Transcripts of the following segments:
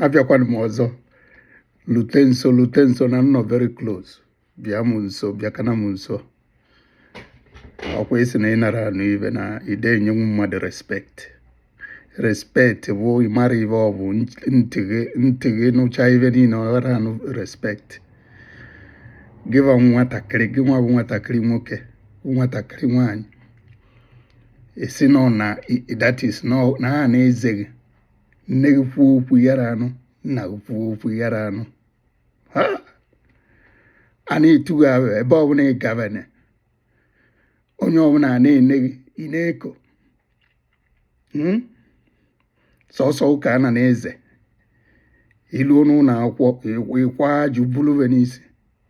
abịakwana m ọzọ lute nso lute nso na nnọ very close bịa m nso bịakana m nso ọkwa ị sị na ịnara anụ ive na ide enyenwu mmadụ respect respect bụ ịmara ive ọ bụ ntị gị nụcha ive niile ọ ghara anụ respect gịwa nwatakịrị gị nwa bụ nwatakịrị nwoke nwatakịrị nwaanyị esi nọ na that is na a na-eze gị nne gị kwuo okwu yara anụ nna gị kwuo okwu yara anụ a na-etu gị aha ebe ọbụla ị gabana onye ọbụla a na-ene gị ị na-eko hmm? sọsọ gụ ka a na na-eze i luo n'ụlọ akwụkwọ ị kwaa ajụ buluve n'isi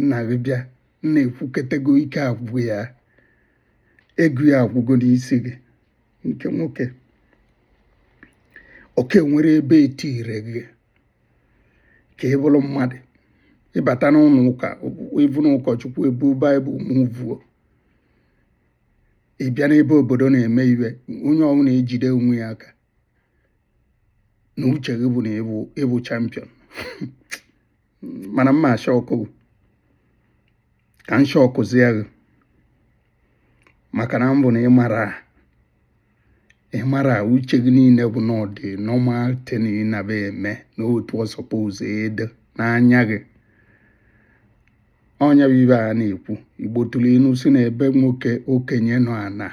nna gị bịa nna ekwuketego ike agwụ ya ego ya agwụgo n'isi gị nke nwoke oke nwere ebe etire gị ka ị bụrụ mmadụ ịbata n'ụlọ ụka ịbụ n'ụkọchukwu ebu bible mụvuo ị bịa n'ebe obodo na-eme ive onye ọbụla ejide onwe ya aka na uche gị bụ na ịbụ champion mana mma shọkụọ ka m shọkụzie gị maka na mbụ na ịmara ịmara uche gị niile bụ na ọ dị normal thing ị na-eme n'otu ọ suppose ịdị n'anya gị ọ nya bụ ive a na-ekwu igbo tụrụ inu si na ebe nwoke okenye nọ ana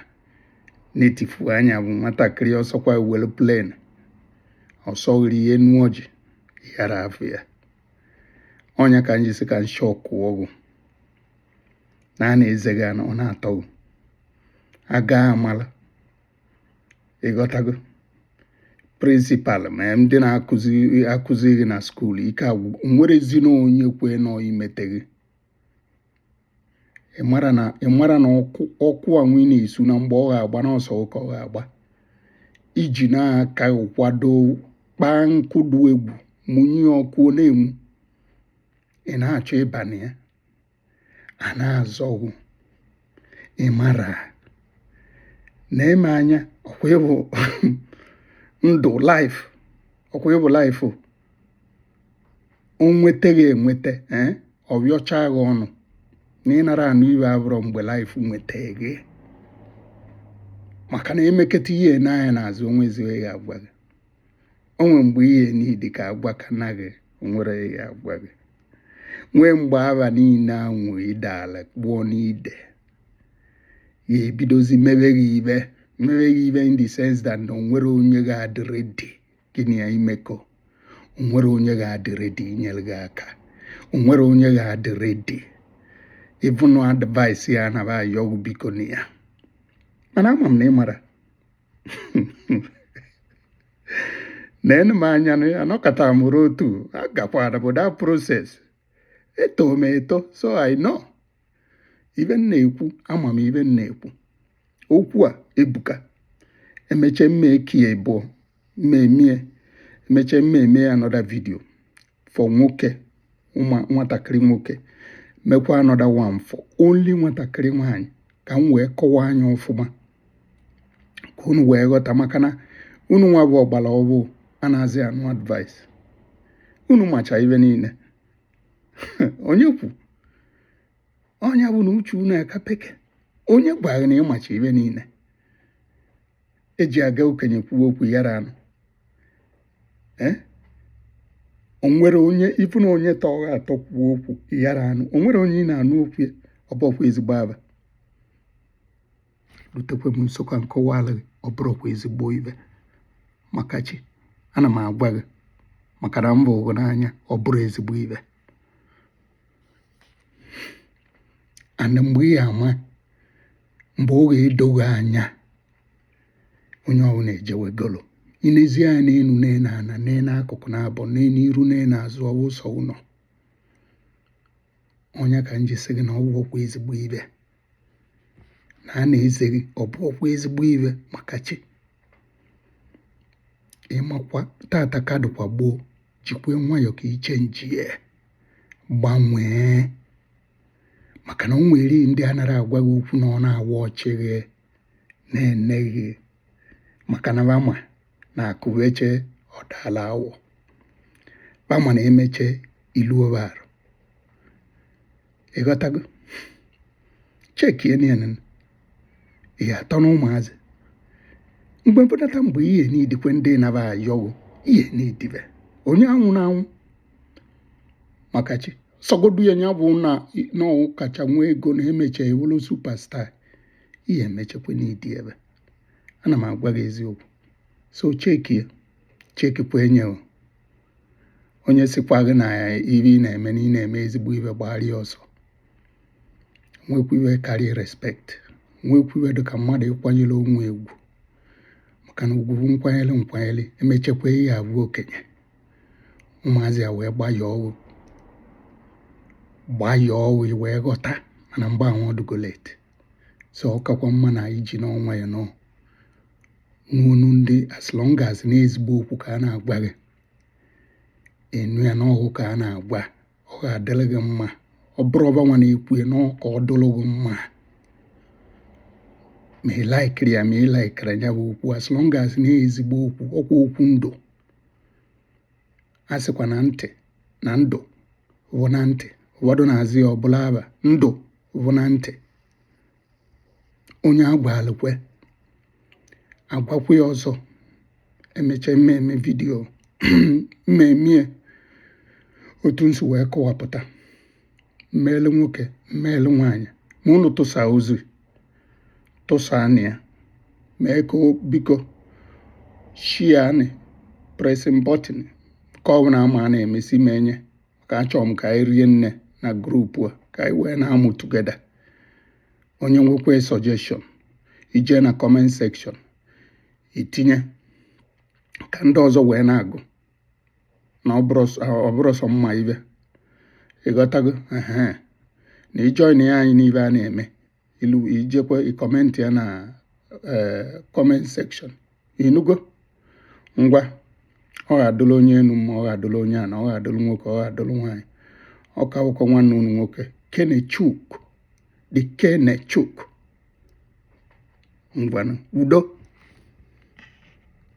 na-etifu anya bụ nwatakịrị ọ sọkwa were plane ọ sọ gị rịa enu ọjị yara afụ ya ọ nya ka m ji sị ka m shọkụọ gụ na a na-eze gị na ọ na-atọ gị a ga-amala ịghọtago principal ma ndị na-akụzi gị na school ike agwụ nwerezi na onye kwe nọ imete gị ịmara na ịmara na ọkụ anwụ ị na-esu na mgbe ọ ga-agba na ọ sọ gụ ka ọ ga-agba iji na-aka kwado kpaa nkụ dị egwu mụnye ọkụ na-enwu ị na-achọ ịba na ya a na-azọ gụ ịmara na eme anya ọkwa ịbụ ndụ life ọkwa ịbụ life o nweta gị enweta eh, ọ bịọcha gị ọnụ na ịnara anụ ive abụrọ mgbe life nweta gị maka na emeketa ihe n'anya n'azụ o nwezi ive ya agwa gị o nwere mgbe ihe niile ka agwa ka na gị nwere ya agwa gị nwee mgbe aba niile anwụ ide ala kpụọ n'ide ya ebidozi mebe gị ibe mebe gị ibe in the sense that na o nwere onye ga-adị ready gị na ya imekọ o nwere onye ga-adị ready inyere gị aka o nwere onye ga-adị ready even advice ya na ba ayọ gụ biko na ya mana ama m na ị mara neenụ m anya na anọkata m ruo otu agakwara m that process eto m eto so I know ibe m na-ekwu ama m ibe m na-ekwu okwu a ebuka emeche m ma ekie ịbụọ m memie emeche m memie another video for nwoke nwatakịrị nwoke mekwa another one for only nwatakịrị nwaanyị ka m wee kọwaa anya ọfụma ka unu wee ghọta maka na unu nwa bụ ọgbala ọbụụ anazị anụ advice unu macha ibe niile onye kwu onye bụ na uche unu aka peke onye gwara gị na ị macha ibe niile eji aga okenye kwuo okwu ị yarọ anụ eh? o nwere onye even onye tọ gị atọ kwuo okwu ị yarọ anụ o nwere onye ị na-anụ okwu ya ọ bụọkwa ezigbo aba rutekwe m nso ka m kọwaala gị ọ bụrọkwa ezigbo ibe maka chi ana m agwa gị maka na m bụụ gụ n'anya ọ bụrọ ezigbo ibe ana mgbe ị ya-ama mgbe ọ ga-edo gị anya onye ọbụla ejewegolo i nezi anya n'enu nee n'ana nee n'akụkụ naabọ nee n'iru nee n'azụ ọ wụụ sọ gụ nọ onye ka m ji sị gị na ọ bụọkwa ezigbo ibe na a na-eze gị ọ bụọkwa ezigbo ibe maka chi ị makwa taata ka dịkwa gboo jikwe nwayọọ ka i chenjie gbanwee maka na o nwere ndị anarọ agwa gị okwu na ọ na-awa ọchị gị na-ene gị maka na ba ma na akụ beche ọ daala awọ ba ma na emeche i luo ba arụ ị ghọtago chekie niile ihe atọ na ụmụazị mgbe mfọdata mgbe ihe n'idikwe ndị na ba ayọ gụ ihe n'idibe onye anwụ na anwụ maka chi sọgodu ya ya bụ na ọ kacha nwee ego na emecha ewulu superstar ihe emechekwa n'idi ebe ana m agwa gị eziokwu so cheki ya chekikwa enye o. onye sikwa gị na ya ibe ị na-eme na ị na-eme ezigbo ibe gbara ya ọsọ nwekwa ibe karịa respect nwekwa ibe dị ka mmadụ ịkwanyere onwe ya ugwu maka na ugwu nkwanyere nkwanyere emechekwa ihe abụ okenye ụmụazị ya wee gbaa ya ọgwụ gbaa ya ọgwụ i wee ghọta mana mgbe ahụ ọ dịgo late so ọ kakwa mma na iji n'ọnwa ya nọ n'ọnụ ndị as long as na ezigbo okwu ka a na-agwa gị ị nụ ya na ọ wụ ka a na-agwa ọ ga-adụrụ gị mma ọ bụrụ ọba nwa na-ekwu ya n'ọ ka ọ dụrụ gị mma ma ị laikiri ya ma ị laikiri ya bụ okwu as long as na ezigbo okwu ọ kwa okwu ndụ a sịkwa na ntị na ndụ bụ na ntị ụfọdụ na-aza ya ọ bụlụ aba ndụ bụ na ntị onye a gwalụ kwe a gwakwa ya ọzọ emecha m mee video m mee ya otu m si wee kọwapụta m meelụ nwoke m meelụ nwaanyị ma ụnụ tụsa ozi tụsaanị ya mee ka biko shianị pressing button ka ọ bụla ma na-emesi m enye ka achọrọ m ka anyị rie nne na group a ka anyị wee na-amụ together onye nwekwa suggestion ị jee na comment section ị tinye ka ndị ọzọ wee na-agụ na ọ bụrọ sọ m ma ibe ị ghọtago na ị join ya anyị n'ibe a na-eme ilu ị jekwa ị comment ya na eh, comment section ị nụgo ngwa ọ ga-adụrụ onye enu mma ọ ga-adụrụ onye ana ọ ga-adụrụ nwoke ọ ga-adụrụ nwaanyị ọ ka bụkwa nwanne unu nwoke kenechuk dị kenechuk ngwanụ udo